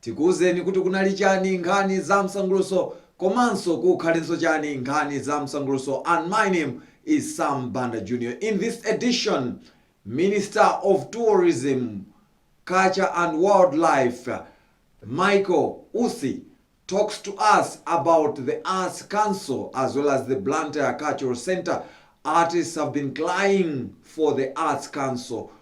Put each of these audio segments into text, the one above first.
Tikuuzeni kuti kunali chani nkhani za msanguluso komanso kukhalenso chani nkhani za msanguluso and my name is Sam Banda Junior in this edition Minister of Tourism, Culture and Wildlife Michael Usi talks to us about the Arts Council as well as the Blantyre Cultural Centre, artists have been crying for the Arts Council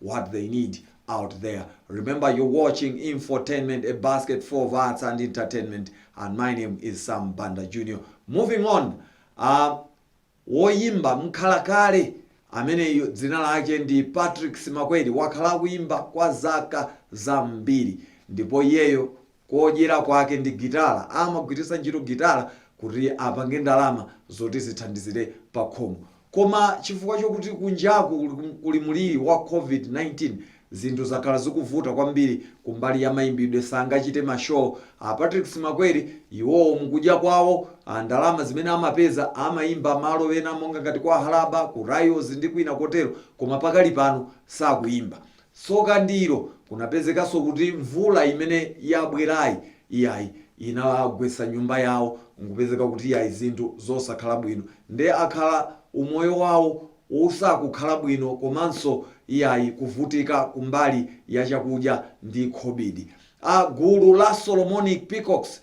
what they need out there. Remember you're watching infotainment, a basket full of arts and entertainment and my name is Sam Banda Jr. Moving on, uh, woyimba mkhalakale amene dzina lake ndi Patrick Simakweli wakhala akuyimba kwa zaka zambiri ndipo iyeyo kodyera kwake ndi gitala amagwiritsa ntchito gitala kuti apange ndalama zoti zithandizire pakhomo koma chifukwa chokuti kunjaku kuli mulili wa covid 19 zinthu zakhala zikuvuta kwambiri kumbali ya mayimbidwe sangachite ma show a Patrick Simakweli iwowo mukudya kwawo a ndalama zimene amapeza amayimba malo ena monga ngati kwa Halaba ku Ryalls ndi kwina kotero koma pakali pano sakuyimba Tsoka ndi ilo, kunapezekanso kuti mvula imene yabwerayi, iyayi, inagwetsa nyumba yawo, nkupezeka kuti iyayi zinthu zosakhala bwino. Nde akhala umoyo wawo usakukhala bwino komanso iyayi kuvutika kumbali ya chakudya ndi khobidi. A gulu la Solomonic Peacocks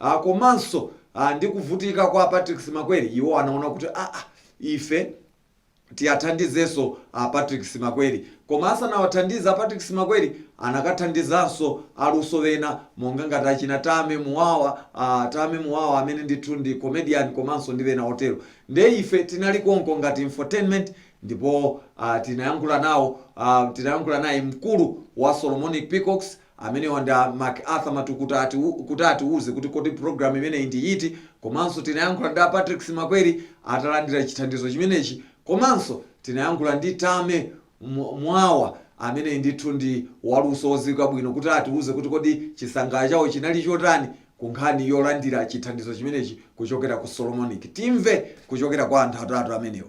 a Komanso a ndi kuvutika kwa a Patrick Simakweli, iwo anaona kuti aa ife tiathandizenso a Patrick Simakweli. Koma asanawathandize a Patrick Simakweli anakathandizanso aluso ena monga ngati achina Tame Muwawa, a Tame Muwawa amene ndithu ndi comedian komanso ndi ena otero. Ndiye ife tinali konko ngati infotainment ndipo a tinayankhula nawo, a tinayankhula naye mkulu wa Solomonic Peacocks, Amenewa ndi a McArthur Matukuta kuti atiuze kuti kodi program imeneyi ndi yiti komanso tinayankhula ndi a Patrick Simakweli atalandira chithandizo chimenechi komanso tinayankhula ndi Tame Muwawa ameneyi ndithu ndi waluso oziwika bwino kuti atiuze kuti kodi chisangalalo chawo chinali chotani ku nkhani yolandira chithandizo chimenechi kuchokera ku Solomonic. Timve kuchokera kwa anthu atatu amenewa.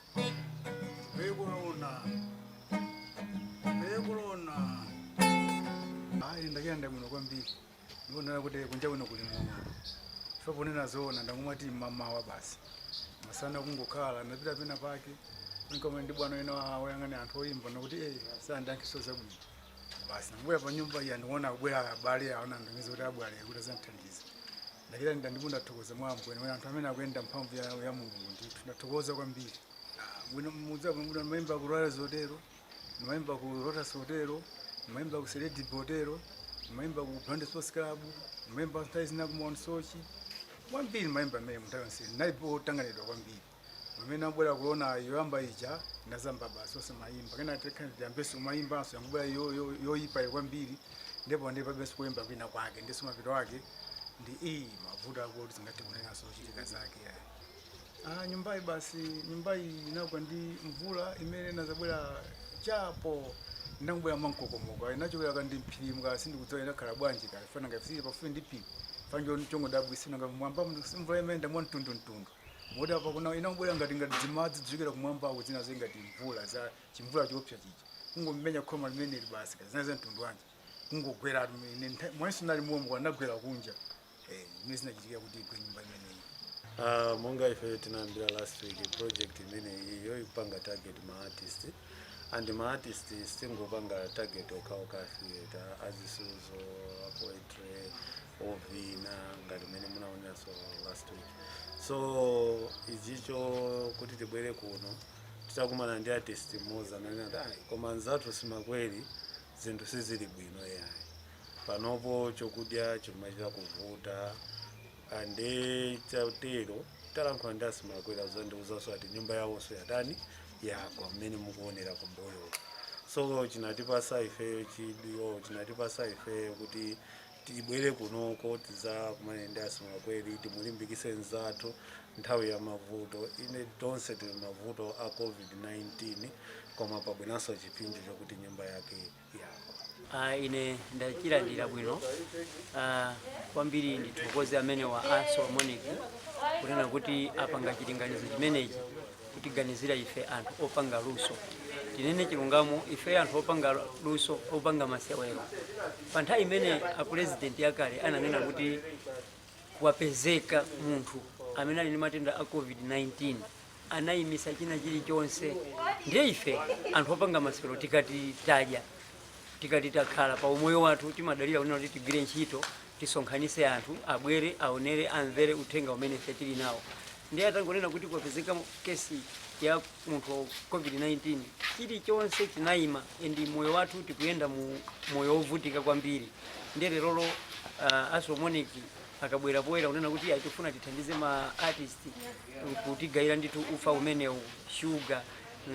Bekolona. Bekolona. Ayi ndakondwa mno kwambiri. Ndionera kuti kunja kuno kuli ng'oma. Ife ponena zoona ndangomati mmamawa basi. Masana kungokhala ndapita pena pake. Nkukumana ndi bwana ena wa- woyang'anira anthu oyimba nakuti eh sandankiso zabwino. Basi ndabwera pa nyumba iyi ndiona kubwera abale awa ndangoziwa kuti abwera kuti azandithandiza. ndachita ndida ndipo ndathokoza mwa ambuye nawe anthu amene akuyenda mphamvu ya, ya mulungu ndithu ndathokoza kwambiri Ah, bwino mudza bwino ndimayimba ku Ryalls hotelo ndimayimba ku Lotus hotelo ndimayimba ku seledi hotelo ndimayimba ku Blantyre sports club ndimayimba nthawi zina ku Mount Soche kwambiri ndimayimba amene munthawi yonse ndinalipo otanganidwa kwambiri pamene inabwera korona yoyamba ija ndazamba basi osamayimba kenaka ndiyambenso kumayimbanso yangobwera yo- yo- yoyipa yo kwambiri ndipo palibenso kuyimba kwina kwake ndinso mapeto ake ndi iyi mavuto akuti zingati kunenanso zochitika zake ayi Ah, nyumbayi basi nyumbayi inagwa ndi mvula imene inadzabwera chapo inangobwera mwankokomo kaya inachokera kuti m'phirimu kaya sindikudziwa inakhala bwanji chifukwa ngati tili pafupi ndi phiri fanjo chongo dabwisina nga mwamba mvula imene ndamwa mtundumtundu moti apa kuno inangobwera ngati ngati dzimadzi dzikugwa kumwambako zina zake ngati mvula za chimvula choopsa chija kungomenya khoma limeneli basi zina za mtundu wanji kungogwera atu ine ntha- mwemo ndinali momwe linagwera kunja eh mmene zinachitikira kuti igwe nyumba imeneyi Ah, monga ife tinayambira last week project imene iyo ikupanga target ma artist and ma artist sitingopanga target okhaokha theater azisuzo poetry ovina ngati mmene munaoneranso last week so ichicho kuti tibwere kuno titakumana ndi artist mmodzi anati "Ayi, koma nzathu Simwakweli zinthu sizili bwino yayi panopo chokudya chimachita kuvuta ande chatero talankhula ndi a Simwakweli adzandiuzanso ati nyumba yawonso yatani yagwa mmene mukuonera kumboyo so chinatipasa ifeyo chidwi chinatipasa ifeyo kuti Tibwere kunoko tidzakumane ndi a Simwakweli timulimbikise nzathu nthawi ya mavuto inde tonse tili mavuto a covid 19 koma pabweranso chipsinjo chokuti nyumba yake yagwa. Aaa ine ndachilandira bwino aa kwambiri ndithokoze amenewa a Solomonic kunena kuti apanga chilinganizo chimenechi kutiganizira ife anthu opanga luso. Tinene chilungamo ifeyo anthu opanga luso, opanga masewero. Pa nthawi imene apulezidenti akale ananena kuti kwapezeka munthu amene ali ndi matenda a covid-19 anayimisa china chilichonse ndiye ife anthu opanga masewero tikati tadya tikati takhala pa umoyo wathu timadalira kunena kuti tigwire ntchito tisonkhanise anthu abwere aonere amvere uthenga umene ife tili nawo ndiye atangonena kuti kwapezeka kesi ya munthu wa covid-19 chilichonse chinayima and moyo wathu tikuyenda mu moyo wovutika kwambiri ndiye lerolo uh, a Solomonic akabwera poyera kunena kuti "Ayi, tikufuna tithandize ma artist kutigayira ndithu ufa umenewu shuga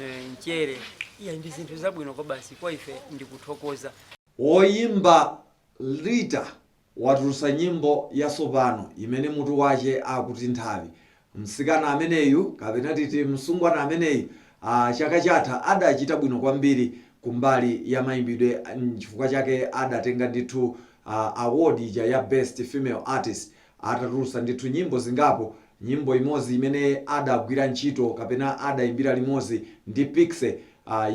eh, mchere iya ndi zinthu zabwino kwabasi kwa ife ndikuthokoza Woyimba Lita watulutsa nyimbo yatsopano imene mutu wache akuti nthawi. msikana ameneyu kapena titi msungwana ameneyu aah chaka chatha adachita bwino kwambiri kumbali yamaimbidwe nchifukwa chake adatenga ndithu aah award ija ya best female artist atatulutsa ndithu nyimbo zingapo Nyimbo imodzi imene adagwira ntchito kapena adayimbira limodzi ndi Piksy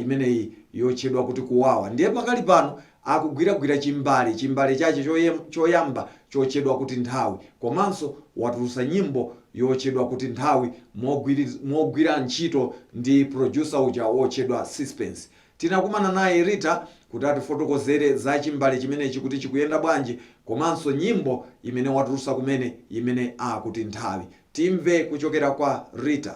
imeneyi yotchedwa kuti Kuwawa ndiye pakali pano akugwiragwira chimbale chimbale chache choyamba chotchedwa kuti Nthawi komanso watulutsa nyimbo yotchedwa kuti Nthawi mogwira ntchito ndi producer uja wotchedwa Sispence Tinakumana naye Rita kuti atifotokozere za chimbale chimenechi kuti chikuyenda bwanji komanso nyimbo imene watulutsa kumene imene akuti Nthawi. Timve kuchokera kwa Rita.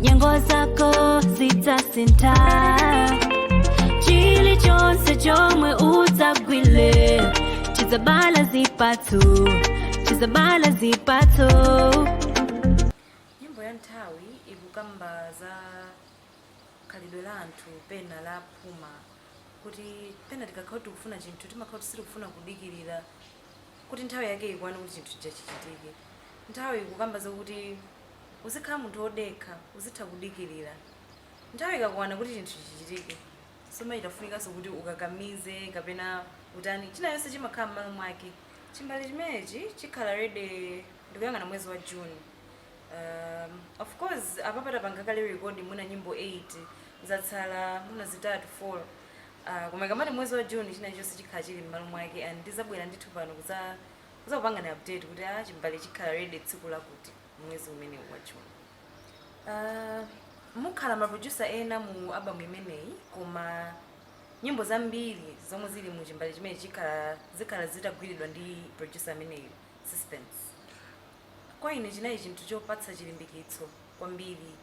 nyengo zako zidzasintha chilichonse chomwe udzagwire chidzabala zipatso chidzabala zipatso nyimbo ya nthawi ikukamba za khalidwe la anthu pena la phuma kuti pena tikakhala tikufuna chinthu timakhala kuti sitikufuna kudikirira kuti nthawi yake ikwane kuti chinthu chija chichitike nthawi ikukamba zakuti Uzikhala munthu wodekha, uzitha kudikirira. Nthawi ikakwana kuti chinthu chichitike, sumachita kufunikanso kuti ukakamize kapena utani. China chilichonse chimakhala m'malo mwake. Chimbale chimenechi chikhala ready ndikuyang'ana mwezi wa June. Ahm, of course apapa tapanga kale record mwina nyimbo 8, zatsala mwina zitatu, four. Aah, koma ikamati mwezi wa June, china chilichonse chikhala chili m'malo mwake and ndidzabwera ndithu pano kudza kudzakupangani update kuti ah chimbale chikhala ready tsiku lakuti mwezi umene wa June uh, mukhala ma producer ena mu album imeneyi koma nyimbo zambiri zomwe zili mu chimbale chimene chikhala zikhala zitagwiridwa ndi producer ameneyu Sispence kwa ine chinali chinthu chopatsa chilimbikitso kwambiri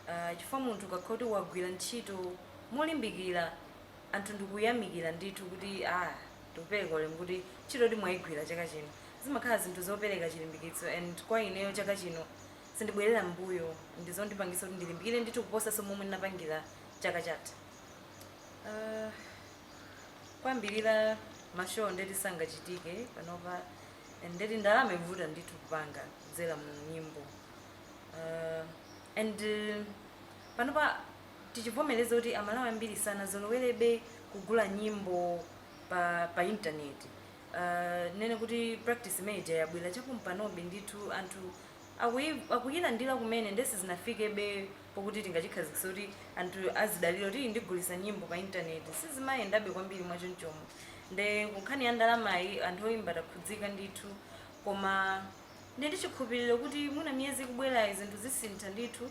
uh, chifukwa munthu ukakhala kuti wagwira ntchito molimbikira anthu ndikuyamikira ndithu kuti a tikupereka ulemu kuti ntchito di mwayigwira chaka chino zimakhala zinthu zopereka chilimbikitso and kwa ineyo chaka chino sindibwerera mbuyo ndizondipangisa kuti ndilimbikire ndithu kuposaso momwe ndinapangira chaka chatha uh, kwambiri mashow ndeti sangachitike panopa and ndeti ndalama ikuvuta ndithu kupanga kudzera mu nyimbo uh, and uh, panopa tichivomereze kuti amalawi ambiri sanazolowerebe kugula nyimbo pa pa internet uh, nene kuti practice imene ija yabwera chapompanobe ndithu anthu akuyi- akuyilandira kumene nde sizinafikebe pokuti tingachikhazikise kuti anthu azidalira kuti "Iyi ndigulisa nyimbo pa internet sizimayendabe kwambiri mwachonchomo nde kunkhani ya ndalamayi anthu oyimba takhudzika ndithu koma ndi ndichikhulupiriro kuti mwina miyezi ikubwerayi zinthu zisintha ndithu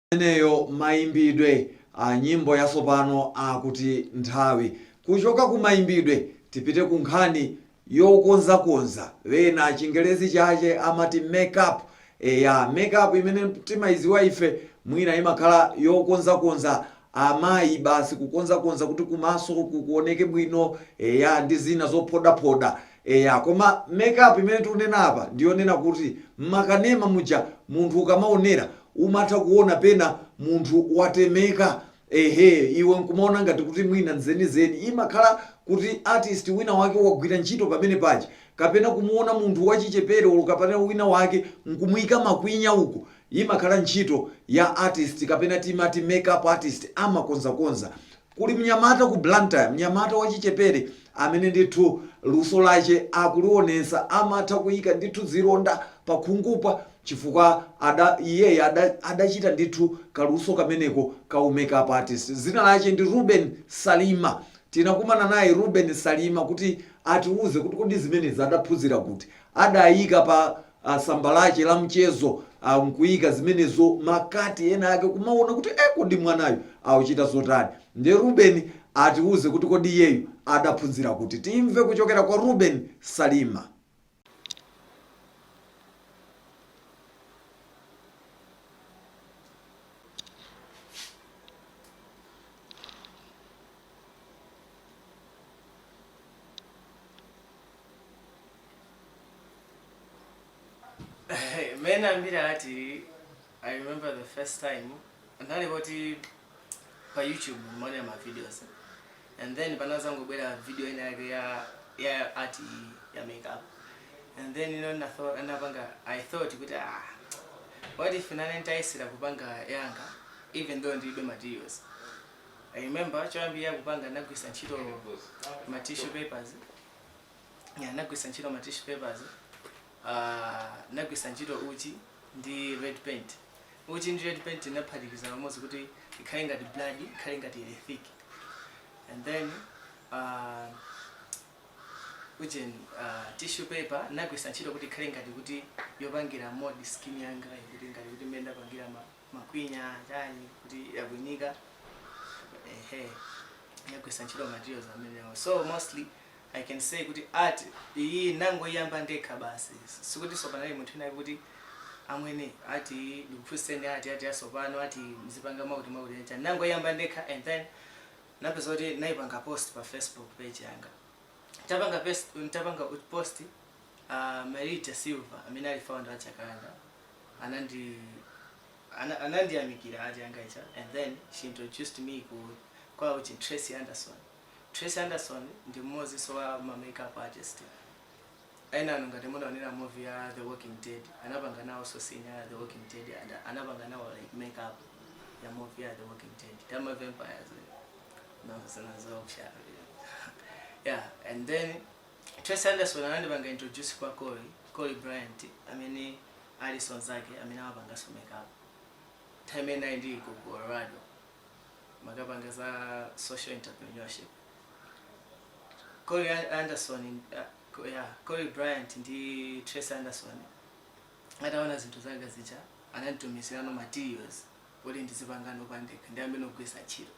imeneyo mayimbidwe a nyimbo yatsopano akuti nthawi. Kuchoka ku mayimbidwe tipite ku nkhani yokonzakonza, ena chingerezi chache amati make up. Eya, make up imene timayidziwa ife mwina imakhala yokonzakonza amayi basi, kukonzakonza kuti kumaso uku kuoneke bwino, eya, ndi zina zophodaphoda. Eya, koma make up imene tikunena apa ndi yonena kuti m'makanema muja munthu ukamaonera umatha kuona pena munthu watemeka, ehe, iwe n'kumaona ngati kuti mwina n'zenizeni. Imakhala kuti artist wina wake wagwira ntchito pamene paja. Kapena kumuona munthu wachichepere olo kapena wina wake n'kumuika makwinya uku, imakhala ntchito ya artist kapena timati make up artist amakonzakonza. Kuli mnyamata ku Blantyre, mnyamata wachichepere amene ndithu luso lache akulionesa, amatha kuika ndithu zilonda pakhungupa chifukwa iyeyi adachita ndithu kaluso kameneko ka u make up artist. Dzina lache ndi Reuben Salima. Tinakumana naye Reuben Salima kuti atiuze kuti kodi zimenezi adaphunzira kuti. Adaika pa a tsamba lache la mchezo a n'kuika zimenezo ma kati ena ake kumaona kuti e kodi mwanayu akuchita zotani ndiye Ruben atiuze kuti kodi iyeyu adaphunzira kuti timve kuchokera kwa Ruben Salima. mene ndinayambira eti i remember the first time ndali kuti pa youtube mmaonera ma videos and then panazangobwera video ina yake ya ya art iyi ya makeup and then ino natho- anapanga i thought kuti ah what if nane ntayesera kupanga yanga even though ndilibe materials i remember choyambira kupanga ndagwiritsa ntchito ma tissue papers ya nagwisa ntchito ma tissue papers ah, nagwisa ntchito uchi ndi red paint uchi ndi red paint naphatikiza pamodzi kuti ikhale ngati blood ikhale ngati thick and then ah, ujeni uh, tissue paper nagwisa ntchito kuti ikhale ngati kuti yopangira mod skin yanga kuti ngati kuti mmene ndapangira ma makwinya chani kuti yakwinyika ehe yagwisa ntchito materials amenewo so mostly i can say kuti art iyi nangoyamba ndekha basi sikuti sopanali munthu inayi kuti amwene ati ndikuphunzitseni ati ati asopano ati mzipanga mwakuti mwakuti icha nangoyamba ndekha and then napeza kuti naipanga post pa facebook page yanga ntapanga pes- ntapanga post A Marita Silva amene ali founder wa Chakanda anandi ana- anandiyamikira ati yanga icha and then she introduced me ku kwa uchi Tracy Anderson. Tracy Anderson ndi mmodzi so wa ma makeup artist. Ena anu ngati munaonerako movie ya The Walking Dead anapanga nawo so scene ya The Walking Dead and anapanga nawo like makeup ya movie ya The Walking Dead. Zama vampires. No, zinazoopsa. yeah, and then Tracey Anderson anandipanga introduce kwa Cory, Cory Bryant amene alinso nzake amene amapanganso make up nthawi imene ndinali ndili ku Colorado nakapanga za social entrepreneurship Cory An- Anderson uh, Co- yeah, Cory Bryant ndi Tracey Anderson ataona zinthu zanga zija ananditumizirano materials kuti ndizipangano pandekha ndi amenewo ndikugwisa ntchito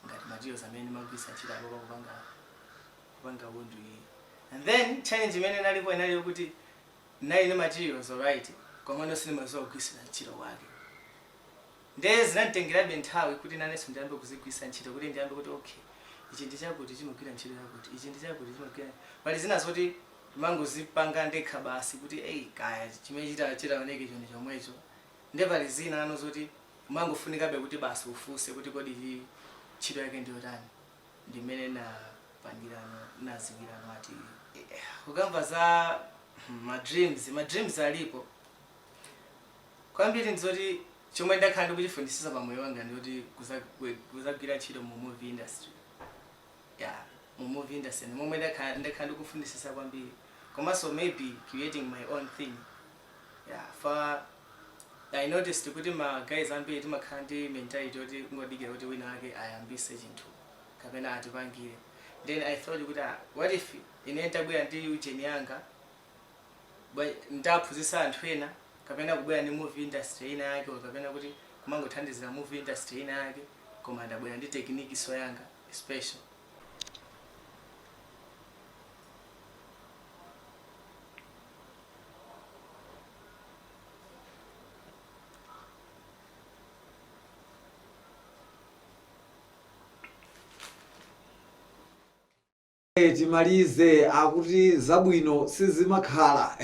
ngati materials amene ndimagwiritsa ntchito apapa kupanga kupanga wound iyi and then challenge imene inalipo inali yokuti ndinali ndi materials alright komano sindimadziwa kugwiritsira ntchito kwake nde zinanditengerabe nthawi kuti nanenso ndiyambe kuzigwiritsa ntchito kuti ndiyambe kuti okay ichi ndi chakuti chimagwira ntchito yakuti ichi ndi chakuti chimagwira pali zina zoti ndimangozipanga ndekha basi kuti eyi kaya chimene chita- chitaoneke nchoni chomwecho nde pali zinano zoti Umangofunikabe kuti basi ufunse kuti kodi ichi ntchito yake ndi yotani. Ndi mmene ndinapangirano, ndinadziwirano ati kukamba za ma dreams, ma dreams alipo. Kwambiri ndi zoti chomwe ndakhala ndikuchifunitsitsa pa moyo wanga ndi choti kuzagwi- kuzagwira ntchito mu movie industry. Yeah, mu movie industry ndi momwe ndakhala ndakhala ndikufunitsitsa kwambiri. Komanso maybe creating my own thing. Yeah, for I noticed kuti ma guys ambiri timakhala ndi mentality yoti kungodikira kuti wina wake ayambise chinthu kapena atipangire then i thought kuti ah, what if ine ntabwera ndi ujeni yanga nta- ntaphunzisa anthu ena kapena kubwera ndi movie industry ina yake or kapena kuti kumangothandizira movie industry ina yake koma ndabwera ndi technique so yanga special Eh, timalize akuti zabwino sizimakhala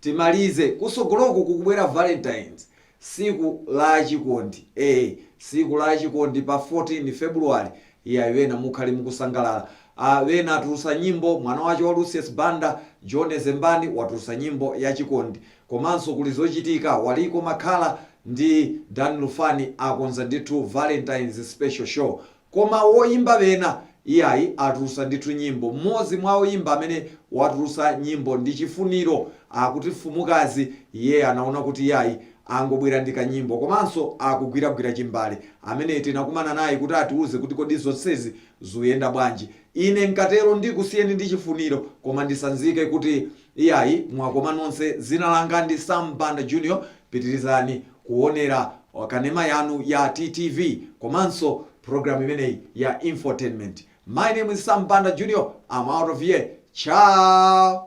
timalize kusogoloku kukubwera valentines Tsiku la achikondi ee tsiku la achikondi pa 14 February iyayi wena mukhale mukusangalala a wena atulusa nyimbo mwana wache wa Lucius Banda John Zembani watulusa nyimbo ya chikondi komanso kuli zochitika Waliko Makhala ndi Dan Lufani akonza ndithu Valentines special show Koma woyimba wena? Iyayi, atulusa ndithu nyimbo. M'modzi mwa oyimba amene watulusa nyimbo ndi Chifuniro akuti Mfumukazi iye anaona kuti iyayi angobwera ndi kanyimbo komanso akugwiragwira chimbale amene tinakumana naye kuti atiuze kuti kodi zonsezi zuyenda bwanji. Ine nkatero ndikusiyeni ndi Chifuniro koma ndisanzike kuti. Iyayi mwakoma nonse zina langa ndi Sam Banda Junior pitilizani kuonera kanema yanu ya TTV komanso program imeneyi ya infotainment my name is Sam Banda Junior I'm out of here ciao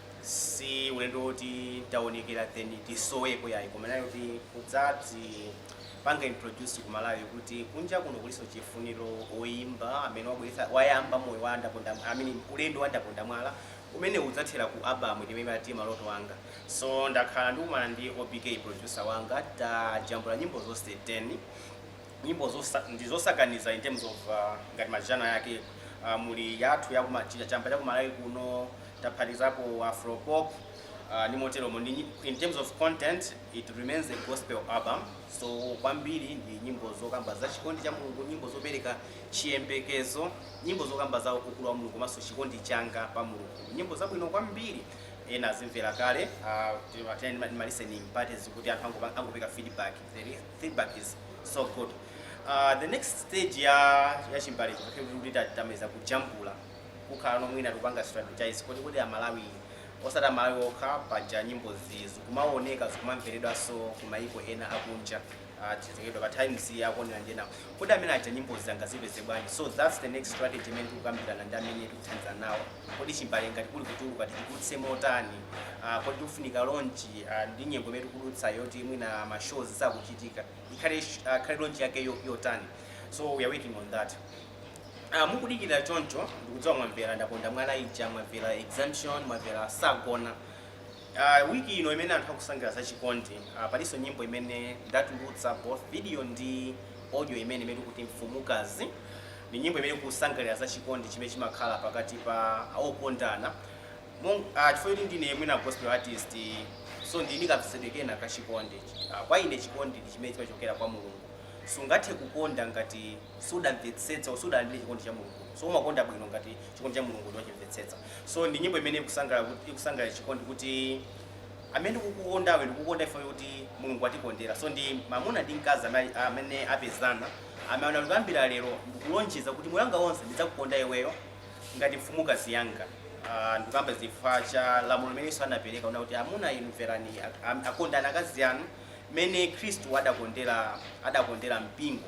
si ulendo woti taonekera then tisoweko yayi koma inali yoti kudzadzipanga introduce ku malawi kuti kunja kuno kulinso chifuniro oyimba amene wabweretsa wayamba moyo wa ndaponda amene ulendo wa ndaponda mwala umene udzathera ku album imene timati maloto anga so ndakhala ndikumana ndi obk producer wanga tajambula nyimbo zonse 10 nyimbo zosa, ndi zosakaniza in terms of uh, ngati ma genre yake uh, muli yathu ya kuma- chi- chamba cha kumalawi kuno taphatikizapo afropop uh, ndi moteromo ndi nyi- in terms of content it remains a gospel album so kwambiri ndi nyimbo zokamba za chikondi cha mulungu nyimbo zopereka chiyembekezo nyimbo zokamba za ukulu wa mulungu komanso chikondi changa pa mulungu nyimbo zabwino kwambiri ena azimvera kale uh, tinali ndi ma listening parties kuti anthu angopa- angopereka feedback the re- feedback is so good uh, the next stage ya ya chimbale pakuti tamaliza kujambula kukhala no mwina tikupanga strategize kodi kodi amalawi osati amalawi okha paja nyimbozi zikumaoneka zikumamveredwanso kumayiko ena akunja uh, zitaikidwa pa times akuonera ndi enawo kodi amene aja nyimbo zanga azipeze bwanji so that's the next strategy imene tikukambirana ndi amene tikuthandizana nawo Kodi chimbale ngati kuli kutuluka tichitulutse motani? Uh, kodi tikufunika launch uh, ndi nyengo imene tikudutsa yoti mwina ma shows sakuchitika ikhale uh, khale launch yake yo- yotani? So we are working on that. Ah, mukudikira choncho ndikudziwa mwamvera ndaponda mwala ija mwamvera exemption mwamvera sagona Uh, week ino imene anthu akusangalira za chikondi uh, palinso nyimbo imene ndatulutsa both video ndi audio imene imene tikuti mfumukazi ni nyimbo imene kusangalira za chikondi chimene chimakhala pakati pa okondana uh, chifukwa kuti ndine mwina gospel artist so ndili ndi kamvetsedwe kena ka chikondi uh, kwa ine chikondi ndi chimene chimachokera kwa mulungu sungathe kukonda ngati sudamvetsetsa or sudalandire chikondi cha Mulungu so umakonda bwino ngati chikondi cha Mulungu wachimvetsetsa so ndi nyimbo imene ikusangalala kuti ikusangalira chikondi kuti amene ndikukukondawe ndikukukonda iwe kuti Mulungu atikondera so ndi mamuna ndi mkazi amene- amene apezana amene akuyambira lero ndikulonjeza kuti moyo wanga wonse ndidzakukonda iweyo ngati mfumukazi yanga Ah, ndikukamba chifukwa cha lamulo limene Yesu anapereka una kuti amuna inu mverani ak- am- akondani akazi anu mmene Khristu adakondera adakondera mpingo